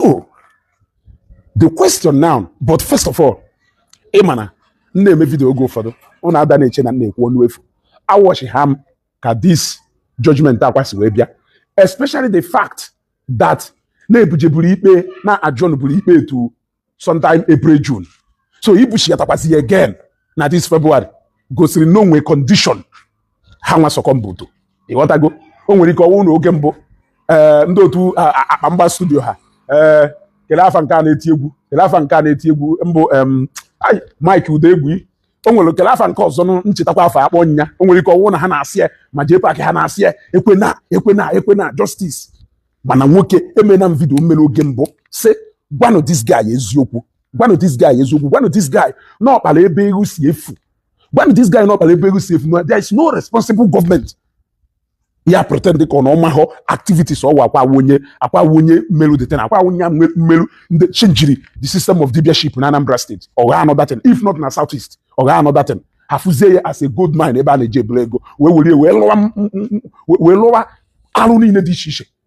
oh the question now but first of all ị ma na m na-eme vidio oge ụfọdụ ụnụ ada na-eche na m na-ekwu ọnụ efu a watchịa m ka this judgment Akwa si wee bịa especially the fact that na e bujeburu ikpe na adjourn buru ikpe a to sometime April June so ibuchighatakwasị ya again na this February gosiri na o nwe condition ha nwa succumb to ịghọtago o nwere ike ọ wụ na oge mbụ ee ndị otu akpa mgba studio ha ee kele afa nke a na-eti egwu kele afa nke a na-eti egwu mbụ Mike Udegwu o nwere kele afa nke ọzọ nchetakwa afa a kpọ nya o nwere ike ọ wụ na ha na-asị ya ma jee park ha na-asị ya ekwena ekwena ekwena justice mana nwoke emena m vidio m mere oge mbụ sị gwanụ this guy eziokwu gwanụ this guy eziokwu gwanụ this guy na ọ kpara ebe ego si efu gwanụ this guy na ọ kpara ebe ego si efu na there is no responsible government ya pretend dịka ọ na ọ mahọ activities ọ wụ Akwa wụ onye Akwa wụ onye melu that thing Akwa wụ onye melu ndị changiri the system of dibiaship na Anambra State or another thing if not na South East or another thing a fụzie ya as a gold mine ebe a na-eji eburu ego wee were wee lụwa wee lụwa arụ niile dị iche iche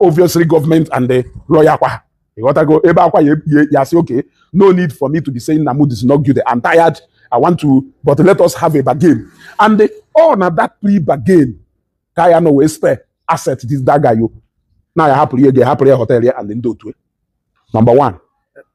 obviously government and the lawyer kwa ịghọtago ebe Akwa ya asị okay no need for me to be saying na mụ is not guilty I'm tired I want to but let us have a bargain and the, ọ na that plea bargain ka ya nọ wee spare asset this that guy yo na ya hapụrụ ihe a ga-ahapụrụ ya hotel ya and ndị otu number one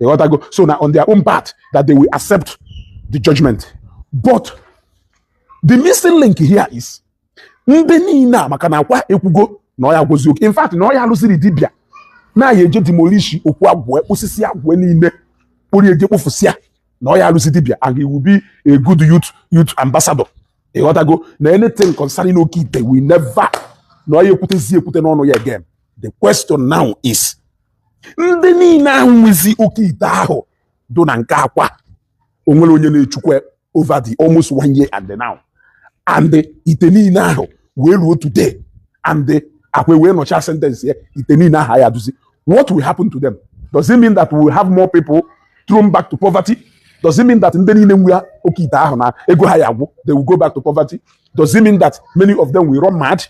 Ịghọtago. So now on their own part that they will accept the judgment. But the missing link here is ndị niile a maka na Akwa ekwugo na ọ ya agwọzi oke in fact na ọ ya alụsiri dibịa na ya eje demolish okwu agwụ kpụsị isi agwụ niile kpụrụ eje kpụfụsịa na ọ ya alụzi dibịa and he will be a good youth youth ambassador ịghọtago na anything concerning oke ite will never na ọ ya ekwutezi ekwute n'ọnụ ya again the question now is ndị niile ahụ nwezi oke ite ahụ dụ na nke Akwa o nwere onye na-echukwa over the almost one year and now and ite niile ahụ wee ruo today and Akwa wee nọcha sentence ya ite niile ahụ ya duzi what will happen to them does it mean that we will have more people thrown back to poverty does it mean that ndị niile nwe oke ite ahụ na ego ha ya agwụ they will go back to poverty does it mean that many of them will run mad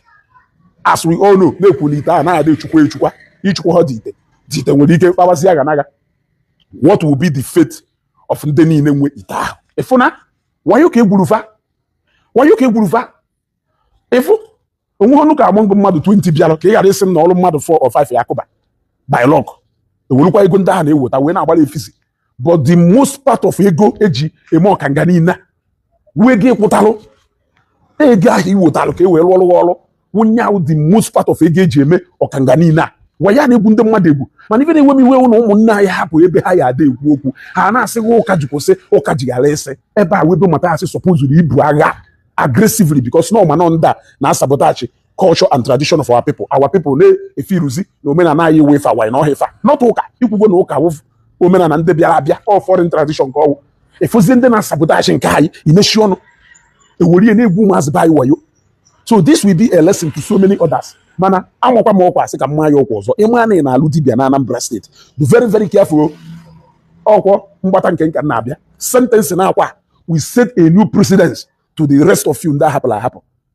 as we all know na-ekwuli ite a na-adị echukwa echukwa ichukwa ha dị ite dị ite nwere ike kpawazi aga n'aga what will be the fate of ndị niile nwe ite ahụ ịfụ na wayo ka e gburu fa wayo ka e gburu fa ịfụ o nwe ọnụ ka among mmadụ 20 bịara ka ị ghara ịsị m na o ru mmadụ 4 or 5 ya akụba by luck e welukwa ego ndị ahụ na-eweta wee na-agbara effizy but the most part of ego eji eme ọkanga niile wee gị kwụtalụ ego ahụ iwetalụ ka e wee rụọrụ ọrụ wụnye ahụ the most part of ego eji eme ọkanga niile a wayo a na-egwu ndị mmadụ egwu mana ife na-ewe m iwe ụlọ ụmụnne anyị hapụ ebe ha ya ada ekwu okwu ha na-asị ụka ji kwụsị ụka ji ghara ịsị ebe a webe mata asị supposed ibu agha aggressively because na ọmanọ ndị a na-asabotage culture and tradition of our people our people na-efiruzi na omenala anyị wee fa wanyị na ọha ifa not ụka ikwugo na ụka wụ omenala ndị bịara abịa ọ foreign tradition ka ọwụ efozie ndị na-asabotage nke anyị i mechie ọnụ ewere ihe na-egwu ụmụazị be anyị wayo so this will be a lesson to so many others mana amakwa m ọkwa asị ka m maa ya ọkwa ọzọ ị ma na ị na-alụ dibia na Anambra State be very very careful ọkwọ mgbata nke nka na-abịa sentence na Akwa will set a new precedence to the rest of you ndị a hapụlụ ahapụ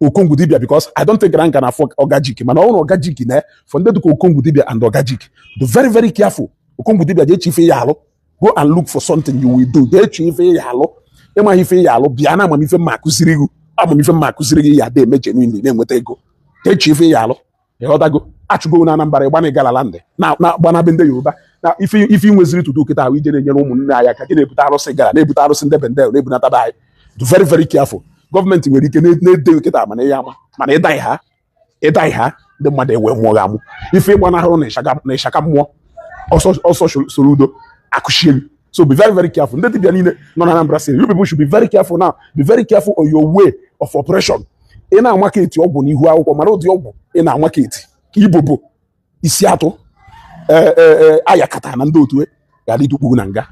Okongwu dibia because I don't think na m ka na-afụ Ogajiki mana ọ wụrụ Ogajiki na for ndị dịka Okongwu dibia and Ogajiki be very very careful Okongwu dibia je chọọ ife ị ya alụ go and look for something you will do je chọọ ife ị ya alụ ị maghị ife ị ya alụ bịa na ama m ife m ya akụziri gị ama m ife m ya akụziri gị ị ya dị eme genuinely na-enweta ego je chọọ ife ị ya alụ ị ghọtago a chụọ gị na Anambra ị gbanaa Igala land ị na-agbana be ndị Yoruba na ife ife i nweziri tutu kịta ahụ ị je na-enyere ụmụnne anyị aka gị na-ebute arụsị Igala na-ebute arụsị ndị Bendel na-ebunata be anyị be very very careful gọọmenti nwere ike na-ede kịta mana ihe ama mana ịdaghị ha ịdaghị ha ndị mmadụ ewe mmụọ gị amụ ife ịgbanahụrụ na ịshaka mmụọ ọsọ soro udo akụchielu So be very, very careful. Ndị dibia niile nọ na Anambra State, you people should be very careful now. Be very careful on your way of operation. Ị na-amarket ọgwụ n'ihu akwụkwọ mara ụdị ọgwụ ị na-amarket ibobo isi atụ eh, eh, eh, ayakata na ndị otu e, ga-adị tukpuru na nga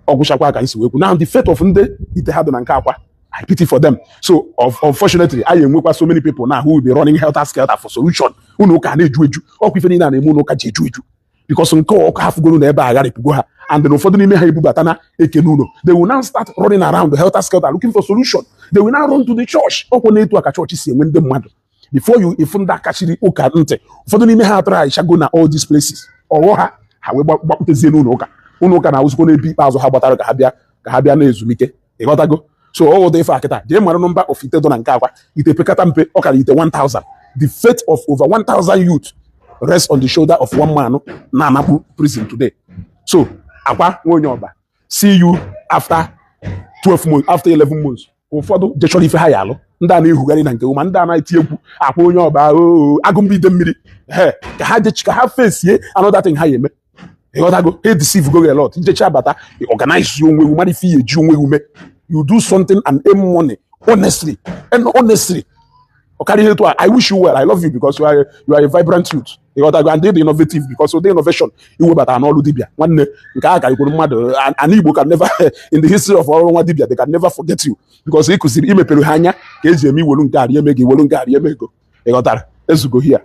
ọ gwụchakwa ka anyị si wee kwu now the fate of ndị ite ha dị na nke Akwa I pity for them so unfortunately anyị enwekwa so many people now who will be running helter skelter for solution unu ụka na-eju eju ọkwa ife niile a na-eme unu ụka ji eju eju because nke ọkụ ha fugoro na ebe a agharịpụgo ha and then ụfọdụ n'ime ha ebubatana eke n'ụlọ they will now start running around the helter skelter looking for solution they will now run to the church ọkwa n'etu a ka chọọchị si enwe ndị mmadụ before you ị fụ ndị kachiri ụka ntị ụfọdụ n'ime ha atraịchago na all these places ọ ghọ ha ha wee gbakpụtezie n'ụlọ ụka ụlọ ụka na-awụzikwa n'ebe ikpeazụ ha gbatara ka ha bịa ka ha bịa na ezumike ị ghọtago so ọ wụ ụdị ife a kịta jee mara nọmba of ite dọ na nke Akwa ite pekata mpe ọ kara ite 1000 the fate of over 1000 youth rest on the shoulder of one man na-anakpu prison today so Akwa nwa onye Ọba see you after 12 months after 11 months ụfọdụ je chọrọ ife ha ya alụ ndị a na-ehugharị na nke ma ndị a na-eti egwu Akwa onye Ọba oo agụmba ide mmiri he ka ha je chọ ka ha fesie another thing ha ya eme ịghọtago ha deceive go a lot njecha abata organize onwe gị mara ife ihe eji onwe gị eme you do something and earn money honestly and honestly ọkarị ihe etu a i wish you well i love you because you are, you are a vibrant youth ịghọtago and ị dị innovative because ụdị innovation i webata n'ọrụ dibia nwanne nke a karịkwuru mmadụ anị igbo can never in the history of ọrụ nwa dibia they can never forget you because ị kụziri i mepere ha anya ka eji eme iwelu nke arị eme gị iwelu nke arị eme ego ịghọtara ezugo here